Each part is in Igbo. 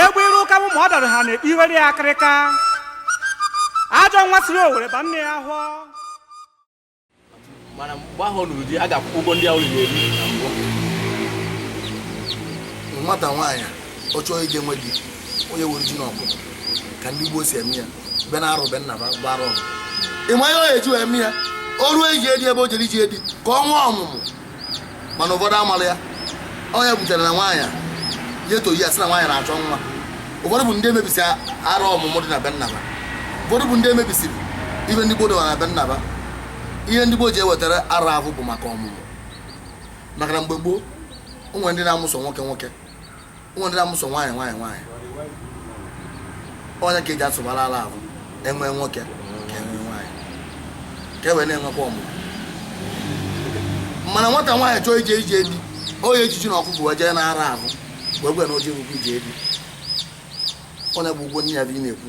egbe iru ụka bụ ma ọ dara ha na iwere ya akịrịka ajọ nwa siri owere ba nne ya afọ mana mgbe ahụ ọ lụrụ di a ga-akwụ ụgwọ ndị ahụ lụrụ eri na mbụ nwata nwaanyị a, ọ chọọ ije nwe di ọ ya ewere ji na ọkụkọ ka ndị gboo si eme ya be na arọ be nna ba gbara ọgụ ịma ihe ọ ya eji wee eme ya o ruo ije di ebe o jere ije di ka ọ nwee ọmụmụ mana ụfọdụ amala ya ọ ya butere na nwaanyị a ya etoyi ya sị na nwaanyị na-achọ nwa ụfọdụ bụ ndị emebisi arọ ọmụmụ dị na be nna ba ụfọdụ bụ ndị emebisiri ihe ndị gboo dowara na be nna ba ihe ndị gboo ji ewetara arọ ahụ bụ maka ọmụmụ maka na mgbe gboo o nwe ndị na-amụ sọ nwoke nwoke o nwe ndị na-amụ sọ nwaanyị nwaanyị nwaanyị ọ ya ka e ji asụbara arọ ahụ e nwee nwoke ka e nwee nwaanyị ka e wee na-enwekwa ọmụmụ mana nwata nwaanyị chọọ ije ije di ọ ya eji ji na ọkụkọ wee jee na arọ ahụ wee gwa ya na oji rukwu ije di onye bụ ụgwọ nne ya bụ ị na-ekwu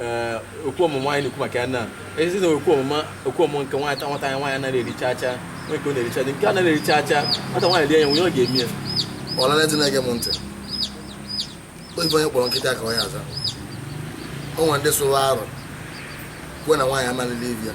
ee okwu ọmụmụ anyị na-ekwu maka ya na ezi na okwu ọmụmụ okwu ọmụmụ nke nwata nwata anyị nwaanyị anaghị eri chaa chaa nwee nke ọ na-eri chaa chaa nke anaghị eri chaa chaa nwata nwaanyị rie ya nwunye ọ ga-eme ya ọlala ndị na-ege m ntị oyibo onye kpọrọ nkịta ka ọ ya aza o nwere ndị sụrụ arọ kwuo na nwaanyị amalili ibi ya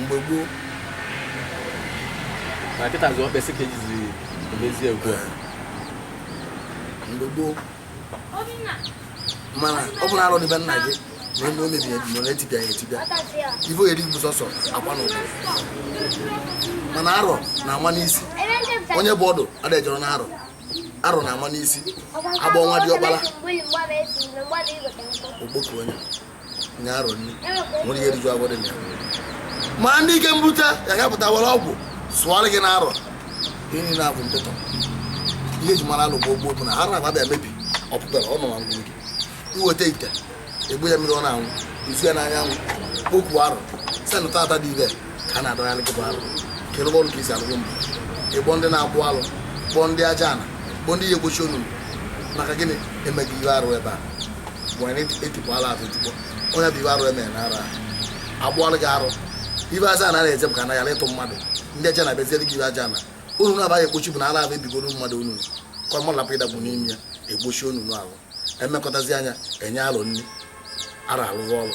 mgbe gboo na nkịta zụọ mkpesị ka ejizi emezie ugbu a mgbe gboo mana ọ bụrụ arọ dị be nna gị na eme o mebiri emebi na etipịa ya etipịa ife ọ ya eri bụ sọsọ akwa na ụkwụ mana arọ na-ama n'isi onye bụ ọdụ adịjọrọ na arọ arọ na-ama n'isi agba ọnwa diọkpara ọ kpọkuo onye nye arọ nri nwere ihe riju agwọ dị na ya ma ndị ike mbute ya ga-apụta were ọgwụ sụọrọ gị n'arọ ihe niile abụ mpịtọ ihe eji mara arọ gboo bụ na ha na-agba bịa mebi ọpụpere ọ nọ na ngwuru gị i weta ite egbu ya mmiri ọ na-anwụ izu ya n'anyanwụ kpọkuo arọ senụta ata dị ibe ka a na-adọgharị gị bụ arọ kere ọrụ ka i si alụgo mbụ ị kpọọ ndị na-akpụ alụ kpọọ ndị aja ana kpọọ ndị ya ekpochi onunu maka gịnị emeghị ihe arụ ebe a were etukwala atụ tukpọ onye bụ ife arụ e mere na arọ a kpụọlụ gị arụ ife aja ana na-eje bụ ka ana yara ịtụ mmadụ ndị aja ana emeziere gị ife aja ana onunu na-abaghị ekpochi bụ na ala ahụ ebigoro mmadụ onunu ka ọ malapụ ịdaba n'ime ya ekpochi onunu ahụ emekọtazi anya enye arọ nri arọ alụrụ ọrụ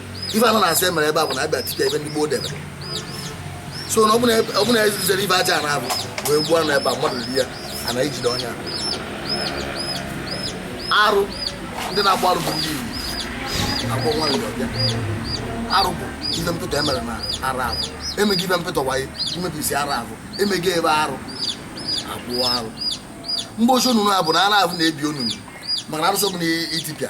ife anọ na-asị emere ebe a bụ na abịa tipịa ebe ndị gboo debere nsọ na ọ bụ na ezizere ife aja na abụ wee gbuo anụ ebe a mmadụ ri ya ana ejide onye arụ ndị na-agba arụ bụ ndị Igbo akwụkwọ nwa Igbo bịa arụ bụ ife mpụta emere na ara abụ emeghị ife mpụta waye imebisi ara abụ emeghị ebe arụ abụọ arụ mgbe ochie onunu a bụ na ara abụ na-ebi onunu maka na arụsị ọbụla itipịa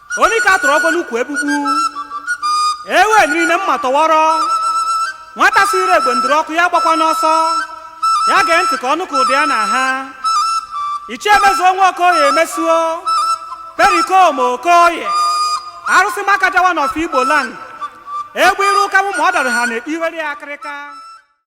onye ka a tụrụ ọgwụ n'ukwu egbugbu ewe niile mma tọwọrọ nwata siri egbe ndụrụ ọkụ ya gbakwana ọsọ ya gee ntị ka ọ nụ ka ụda ya na-aha ichie mezuo nwa okoye mezuo perikom okoye arụsị makaja one of igbo land egbe iru ụka mụ ma ọ dara ha na-ekpe iwere ya akịrịka